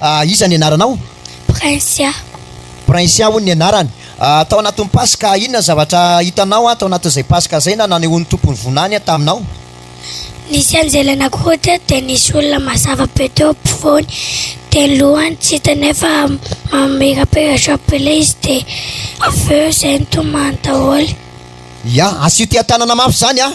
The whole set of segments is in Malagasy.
Ah, iza ny anaranao? Princia. Princia hono ny anarany. Ah, tao anatin'ny Paska, inona ny zavatra hitanao an, tao anatin'izay Paska izay, na nanehoan'ny Tompo ny Vonany an, taminao? Nisy anjely anankiroa teto, dia nisy olona mazava be teo ampovoany, dia ny lohany tsy hita nefa mamirapiratra be ilay izy, dia avy eo izay nitomany daholo. Ya, asio tia tanana mafy zany a.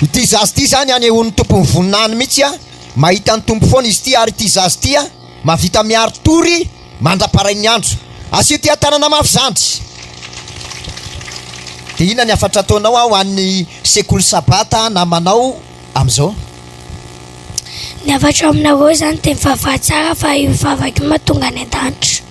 Ity zaza ity zany anehoan'ny tompony voninahiny mitsy a, mahita ny tompo foana izy ity ary ity zaza ity a, mahavita miaro tory mandraparain'ny andro. Asio tia tanana mafy zandry. De inona ny hafatra ataonao a ho an'ny sekoly sabata namanao amizao? Ny hafatro aminareo zany de mivavaha tsara fa io vavaka io mahatonga any an-danitra.